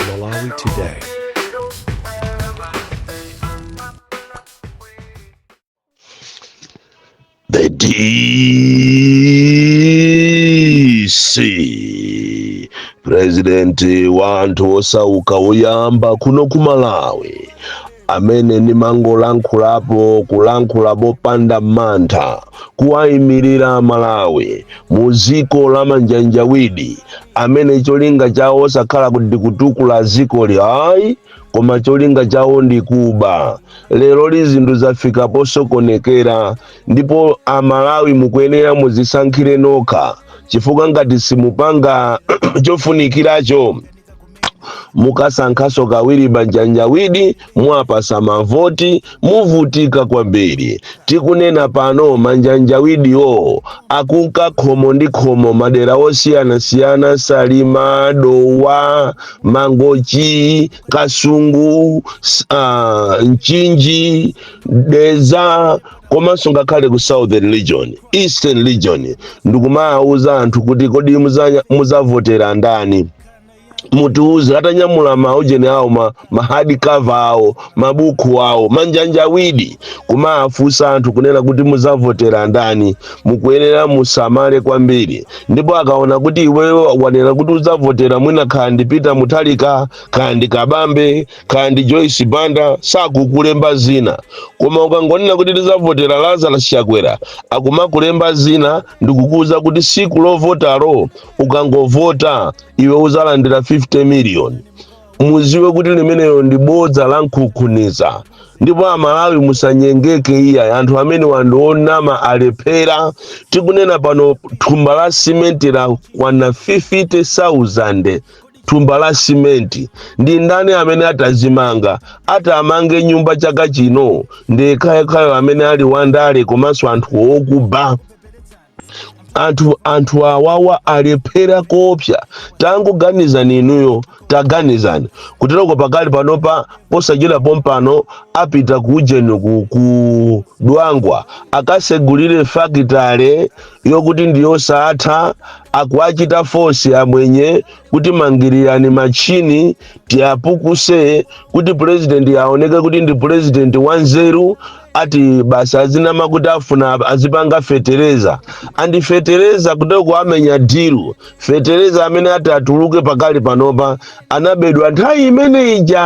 Malawi Today. The DC president wa anthu osauka oyamba kuno ku Malawi amene ndimangolankhulapo kulankhula mopanda mantha kuwayimirira amalawi mu ziko la manjanjawidi amene cholinga chawo osakhala kuti ndikutukula ziko li ayi koma cholinga chawo ndi kuba leroli zinthu zafika posokonekera ndipo amalawi mukuyenera muzisankhire nokha chifukwa ngati simupanga chofunikiracho mukasankhaso kawiri manjanjawidi muwapasa mavoti muvutika kwambiri tikunena pano manjanjawidiwo akunka khomo ndi khomo madera osiyanasiyana salima dowa mangochi kasungu s- ah, mchinji deza komanso ngakhale ku southern region eastern region ndikumawuza anthu kuti kodi muza- muzavotera ndani mutiuze atanyamula maujeni awo ma, ma hard cover awo mabuku awo manjanjawidi kumafunsa anthu kunena kuti muzavotera ndani mukuyenera musamale kwambiri ndipo akaona kuti iweyo wanena kuti uzavotera mwina khandi peter mutharika khandi kabambe khandi joyce banda sakukulemba zina koma ukangonena kuti ndizavotera lazarus chakwera akumakulemba zina ndikukuuza kuti siku lovotalo ukangovota iwe uzalandira 50 million muziwe kuti limeneyo ndi bodza la nkhukhuniza ndipo amalawi musanyengeke iya anthu amene andionama alephera tikunena pano thumba la simenti lakwana 50,000 thumba la simenti ndi ndani amene atazimanga atamange nyumba chaka chino ndi yekhayo amene ali wandale komanso anthu okuba anthu anthu awawa alephera koopsa tangoganizani inuyo taganizani kuteroko pakali panopa posachedwa pompano apita ku ujeni ku, ku dwangwa akasegulire fakitale yokuti ndiyosatha akuachita fosi amwenye kuti mangirirani machini tiyapukuse kuti purezidenti aoneke kuti ndi purezidenti wanzeru ati basa azinama kuti afuna azipanga fetereza andi fetereza kuteko amenya dilu fetereza amene ati atuluke pakali panopa anabedwa nthawi imene ija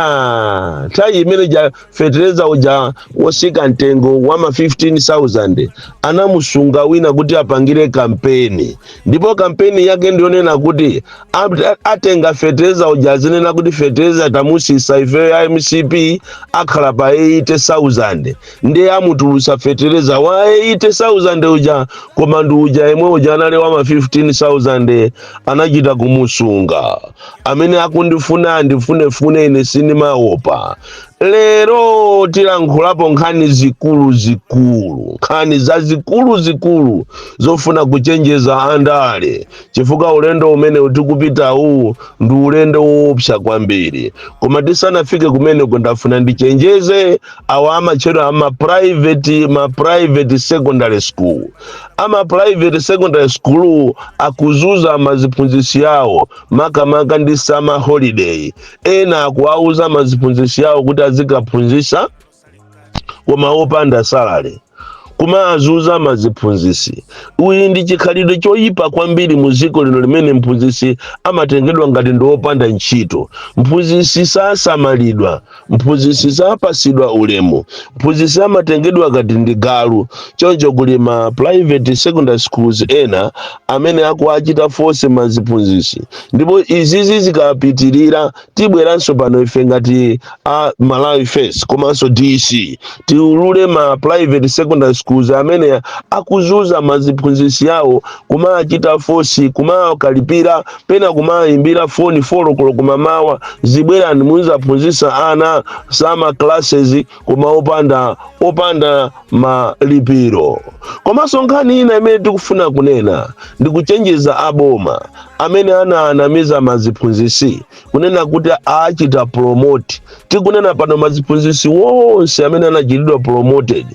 nthawi imene ija fetereza uja wosika mtengo wa ma 15000 anamusunga wina kuti apangire kampeni ndipo kampeni yake ndiyonena kuti at- atenga fetereza uja azinena kuti fetereza tamusisa ifeyo ya mcp akhala pa 80000 ndiye amutulusa fetereza wa 80000 uja koma ndi uja yemwe uja anali wa ma 15000 anachita kumusunga amene akundifuna andifunefune ine sindimaopa Lero tilankhulapo nkhani zikulu zikulu, nkhani za zikulu zikulu zofuna kuchenjeza andale chifukwa ulendo umene tikupita uwu ndi ulendo woopsa kwambiri. Koma tisanafike kumeneko ndafuna ndichenjeze awa amatchedwa ama private ma private secondary school. Ama private secondary school akuzuza maziphunzitsi awo makamaka ndi summer holiday ena akuwauza maziphunzitsi awo kuti azikaphunzitsa koma opanda salary kumawazuza maziphunzitsi uyi ndi chikhalidwe choyipa kwambiri mu dziko lino limene mphunzitsi amatengedwa ngati ndi wopanda ntchito mphunzitsi sasamalidwa mphunzitsi sapasidwa ulemu mphunzitsi amatengedwa ngati ndi galu choncho kuli ma private secondary schools ena amene akuwachita force maziphunzisi ndipo izizi zikapitirira tibweranso pano ife ngati a malawi first komanso dc tiulule ma private secondary schools amene akuzuza maziphunzisi yawo kumawachita force kumawakalipira pena kumawayimbira foni folokolo kumamawa zibwerani muzaphunzisa ana summer classes koma opanda opanda malipiro komanso nkhani ina imene tikufuna kunena ndi kuchenjeza aboma amene anawanamiza maziphunzisi kunena kuti awachita promote tikunena pano maziphunzisi wonse amene anachitidwa promoted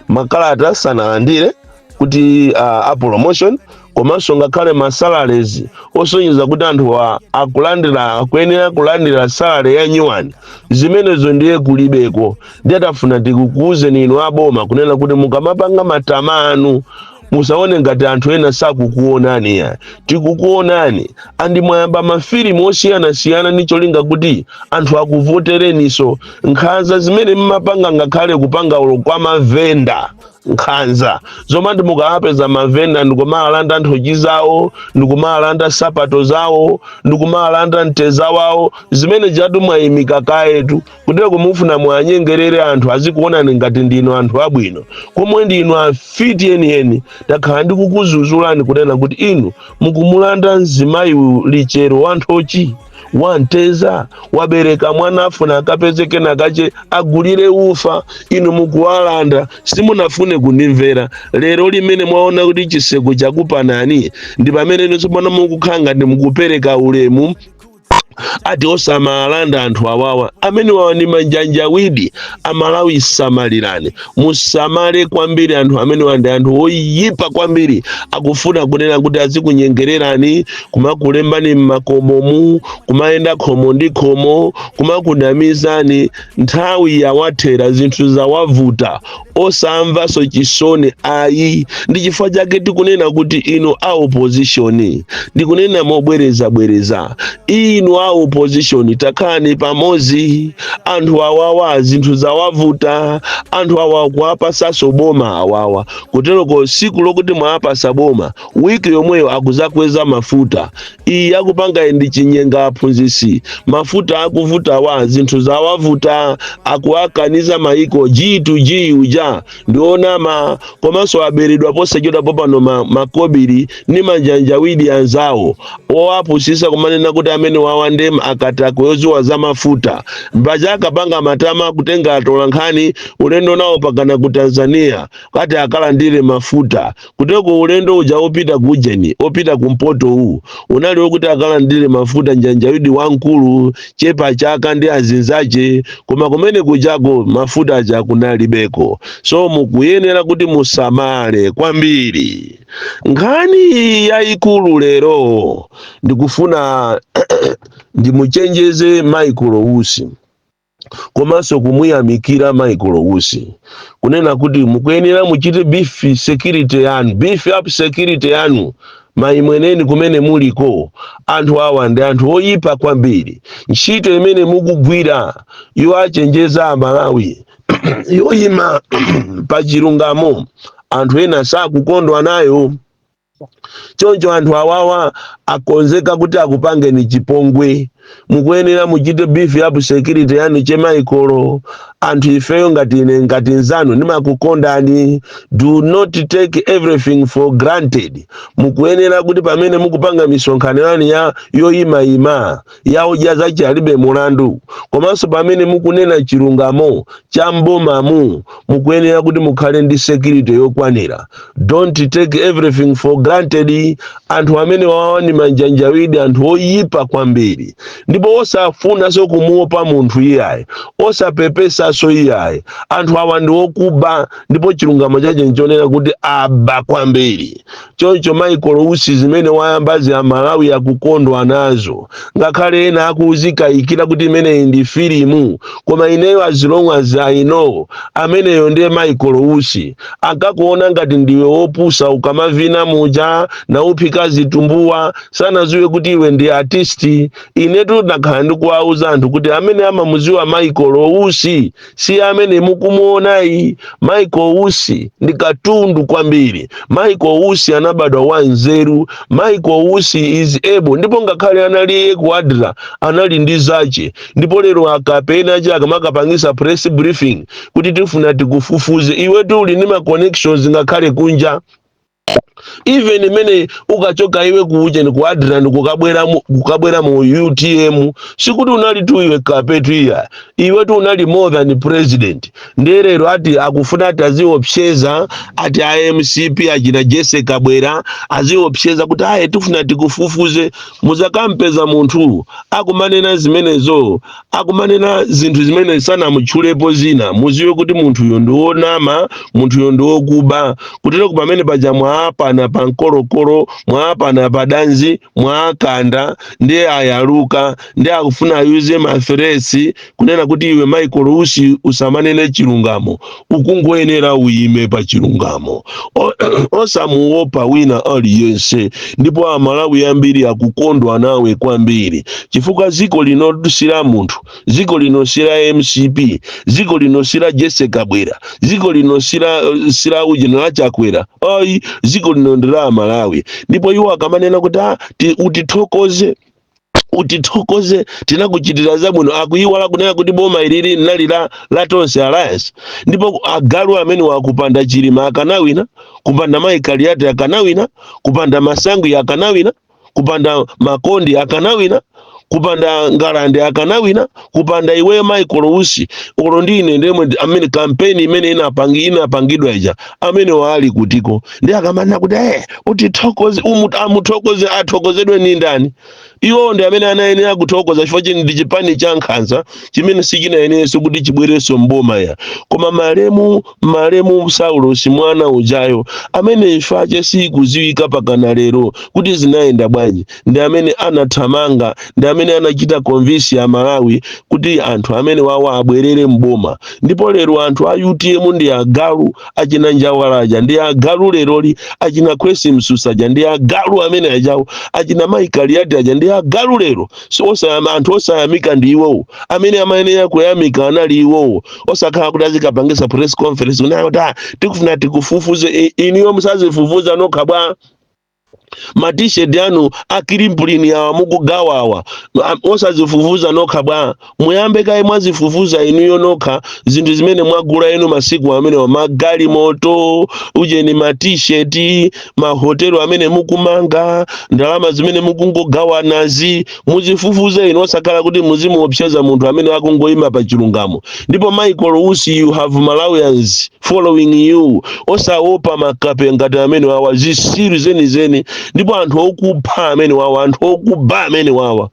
makalata sanalandire kuti uh, a promotion komanso ngakhale ma salaries osonyeza kuti anthuwa akulandira akuyenera kulandira salary ya nyuwani zimenezo ndiye kulibeko ndiye tafuna tikukuuzeni inu aboma kunena kuti mukamapanga matama anu musaone ngati anthu ena sakukuonani ya tikukuonani andi mwayamba mafilimu osiyanasiyana ndi cholinga kuti anthu akuvotereninso nkhanza zimene mmapanga ngakhale kupanga zaulo kwa mavenda nkhanza zomwe mukawapeza mavenda ndikumalanda nthochi zawo ndikumalanda sapato zawo ndikumalanda mteza wawo zimene zijatu mwayimika kayetu kutero mukufuna muwanyengerere anthu azikuonani ngati ndinu anthu abwino pomwe ndinu afiti enieni takhala ndikukuzuzulani kunena kuti inu mukumulanda mzimayi lichero wa nthochi wanteza wabereka mwana afuna akapeze kena kache agulire ufa inu mukuwalanda simunafune kundimvera lero limene mwaona kuti chiseko chakupanani ndi pamene inu tsopano mukukhala ngati mukupereka ulemu ati osamalanda anthu awawa amene wawa ni manjanjawidi amalawi samalirani musamale kwambiri anthu amenewa ndi anthu oyipa kwambiri akufuna kunena kuti azikunyengererani kumakulembani m'makomomu kumayenda khomo ndi khomo kumakunamizani nthawi yawathera zinthu zawavuta osamvanso chisoni ayi ndi chifukwa chake tikunena kuti inu a opozishoni ndikunena mobwerezabwereza inu a opozishoni takhalani pamodzi anthu awawa zinthu zawavuta anthu awa kuwapasaso boma awawa kuteroko siku lokuti mwawapasa boma wiki yomweyo akuzakweza mafuta iyi akupanga iyi ndi chinyenga aphunzisi mafuta akuvutawa zinthu zawavuta akuwakaniza maiko g to g uja ndi onama komanso aberedwa posachedwa popano ma, makobiri ndi manjanjawidi anzawo owapusisa kumanena kuti amene wawa ndi akatakwe oziwa za mafuta mpaja akapanga matama kutenga atolankhani ulendo nawo pakana ku tanzania kati akalandire mafuta Kuteko ulendo uja wopita ku Ujeni, wopita kumpoto uwu, unali wokuti akalandire mafuta njanjawidi wamkulu, chepachaka ndi azinzache, koma kumene kujako mafuta aja kunalibeko. So mukuyenera kuti musamale kwambiri. Nkhani yayikulu lero ndikufuna ndimuchenjeze Michael Usi. komanso kumuyamikira michael usi kunena kuti mukuyenera muchite beef security yanu beef up security yanu mayi mweneni kumene muliko anthu awa ndi anthu oyipa kwambiri ntchito imene mukugwira yoachenjeza amalawi yoyima pa chilungamo anthu ena sakukondwa nayo choncho anthu awawa akonzeka kuti akupangeni chipongwe mukuyenera muchite beef up security yanu che maikolo anthu ifeyo ngati ine ngati nzanu ndimakukondani do not take everything for granted mukuyenera kuti pamene mukupanga misonkhano yanu ya yoyimayima ya odya zace alibe mulandu komanso pamene mukunena chilungamo cha mbomamu mukuyenera kuti mukhale ndi security yokwanira don't take everything for granted anthu amene wawa ni manjanjawidi anthu oyipa kwambiri ndipo osafunanso kumuopa munthu iyayi osapepesanso iyayi anthu awa ndi okuba ndipo chilungamo chace nchonena kuti aba kwambiri choncho michael usi zimene wayambazi amalawi akukondwa nazo ngakhale ena akuzikayikira kuti imeneyi ndi filimu koma ineyo as long as i know ameneyo ndiye michael usi akakuona ngati ndiwe wopusa ukamavina muja nauphika zitumbuwa sanaziwe kuti iwe ndi artisti inetu ndakhala ndikuwauza anthu kuti amene amamuziwa michael usi si amene mukumuonayi michael usi ndi katundu kwambiri michael usi anabadwa wa nzeru michael usi is able ndipo ngakhale anali ku adra anali ndi zace ndipo lero akape ena ache akamakapangisa press briefing kuti tifuna tikufufuze iwetu uli ndi ma connections ngakhale kunja even mmene ukachoka iwe ku ujeni ku adra ni kukabwera mu- kukabwera mu utm sikuti unali tu iwe kape tu iya iwe tu unali more than president ndiye lero ati akufuna ati aziopseza ati a mcp achina jessie kabwila aziopseza kuti aye tifuna tikufufuze muzikampeza munthu akumanena zimenezo akumanena zinthu zimene sanamutchulepo zina muziwe kuti munthuyo ndi wonama munthuyo ndi wokuba kuteroku pamene paja mwaapana pa mkolokolo mwaapana pa danzi mwaakanda ndiye ayaluka ndiye akufuna ayuze maferesi kunena kuti iwe michael usi usamanene chilungamo ukungoyenera uyime pa chilungamo O- osamuopa wina aliyense ndipo amalawi ambiri akukondwa nawe kwambiri chifukwa ziko lino si la munthu ziko lino si la mcp ziko lino si la jessie kabwila ziko lino si la si la ujeni la chakwera ayi ziko lino ndi la amalawi ndipo iwo akamanena kuti "Ah, ti- utithokoze utithokoze tinakuchitira zabwino akuyiwala kunena kuti boma ilili linali la, la tonse alliance ndipo agalu amene awa kupanda chilima akanawina kupanda mayi kaliati akanawina kupanda masangwi akanawina kupanda makondi akanawina kupanda ngalande akanawina kupanda iweyo michael usi olo ndi ine ndemwe ndi- amene kampeni imene inapangi inapangidwa ija amene waali kutiko ndiye akamanena kuti eh utithokoze umu amuthokoze athokozedwe ndi ndani iwo ndi amene anayenera kuthokoza chifukwa chini ndi chipani cha nkhanza chimene sichinayenerenso kuti chibwerenso mboma ya koma malemu malemu saulosi mwana ujayo amene imfa yake sikudziwika mpakana lero kuti zinayenda bwanji ndi amene anathamanga ndi amene anachita convince a malawi kuti anthu amene wawa abwerere mboma ndipo lero anthu a utm ndi agalu achina njawala aja ndi agalu leroli achina kwesi msusa aja ndi agalu amene ajawo achina mai kaliati aja ndi agalu lero so osayama anthu osayamika ndi iwowo amene amayenera kuyamika anali iwowo osakhala kuti azikapangisa press conference kuti "Ah, tikufuna tikufufuze I- inuyo osazifufuza nokha bwa matisheti anu a kilimpulini awa mukugawa awa a- osazifufuza nokha bwa muyambe kaye mwazifufuza inuyo nokha zinthu zimene mwagula inu masiku amenewa magalimoto ujeni matisheti mahotelo amene mukumanga ndalama zimene mukungogawanazi muzifufuze inu osakhala kuti muzimuopseza munthu amene akungoyima pa chilungamo ndipo michael usi you have malawians following you osaopa makape ngati amene wawa zisiru zenizeni ndipo anthu okupha amene wawa anthu okuba amene wawa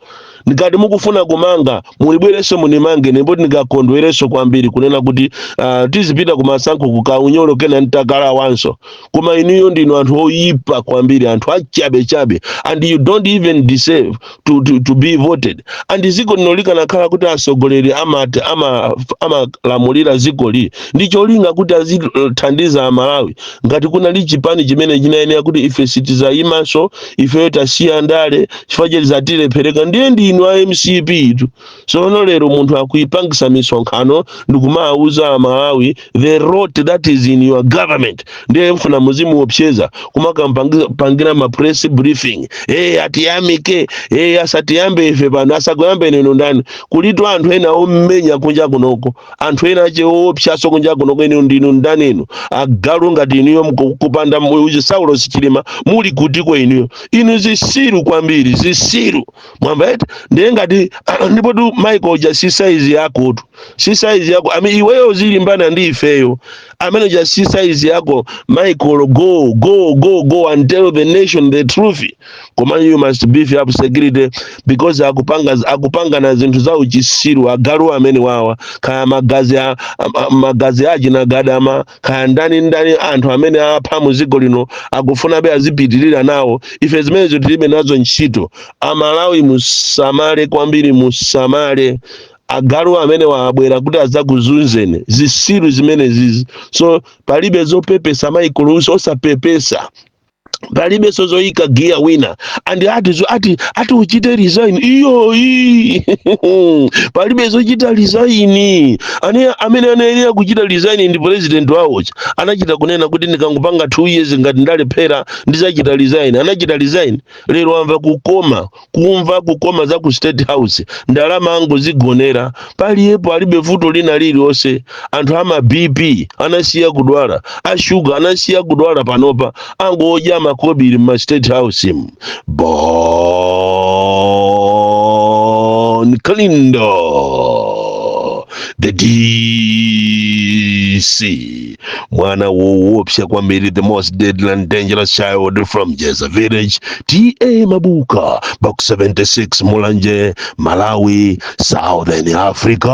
ngati mukufuna kumanga mulibwereso munimange ndipo ndikakondwereso kwambiri kunena kuti uh, tizipita kumasankho kukaunyolo kena ntakalawanso koma inuyo ndinu anthu oyipa kwambiri anthu achabechabe and you don't even deserve to, to, to be voted and ziko lino likanakhala kuti atsogoleri amati ama- amalamulira zikoli ndi cholinga kuti azithandiza amalawi ngati kunali chipani chimene chinayenera kuti ife sitizayimanso ifeyo tasiya ndale chifukwa choti zatilephereka ndiye ndinu a mcp tu sono lero munthu akupangisa misonkhano ndikumawuza amalawi the rot that is in your government ndiye mfuna muzimuopseza kumakapangira ma press briefing hey, atiyamike hey, asatiyambe ife pano asakuyambeni inu ndani kulitu anthu ena omenya kunja kunoko anthu ena ache oopsaso kunja kunoko inu ndinu ndani inu agalu ngati inuyo mku- kupanda mu- ujeni saulos chilima muli kutiko inuyo inu zisiru kwambiri zisiru mwamva eti ndiye ngati ndipotu michael uja si saizi yakotu si saizi yako ami iweyo uzilimbana ndi ifeyo amene uja si saizi yako michael go go go go and tell the nation the truth koma you must beef up security because akupanga akupangana zinthu za uchisiru agalu amene wawa kaya magazi a, a, a, magazi achina gadama kaya ndani ndani anthu amene apha mu dziko lino akufunabe azipitirira nawo ife zimenezi tilibe nazo ntchito amalawi musamale kwambiri musamale agalu amenewa abwera kuti adzakuzunzeni zisiru zimenezizi so palibe zopepesa michael usi osapepesa palibe zoyika giya wina andi ati zo- ati ati uchite resign iyo iyi palibe zochita resign ane amene anayenera kuchita resign ndi president wawoyo. anachita kunena kuti ndikangopanga 2 years ngati ndalephera ndizachita resign anachita resign lero amva kukoma kumva kukoma za ku state house ndalama angozigonera paliyepo alibe vuto lina lililonse anthu ama bp anasiya kudwala ashuga anasiya kudwala panopa angodya makobiri mma state house mu bon kalindo the dc mwana woopsa kwambiri the most deadly and dangerous child from jeza village ta mabuka box 76 mulanje malawi southern africa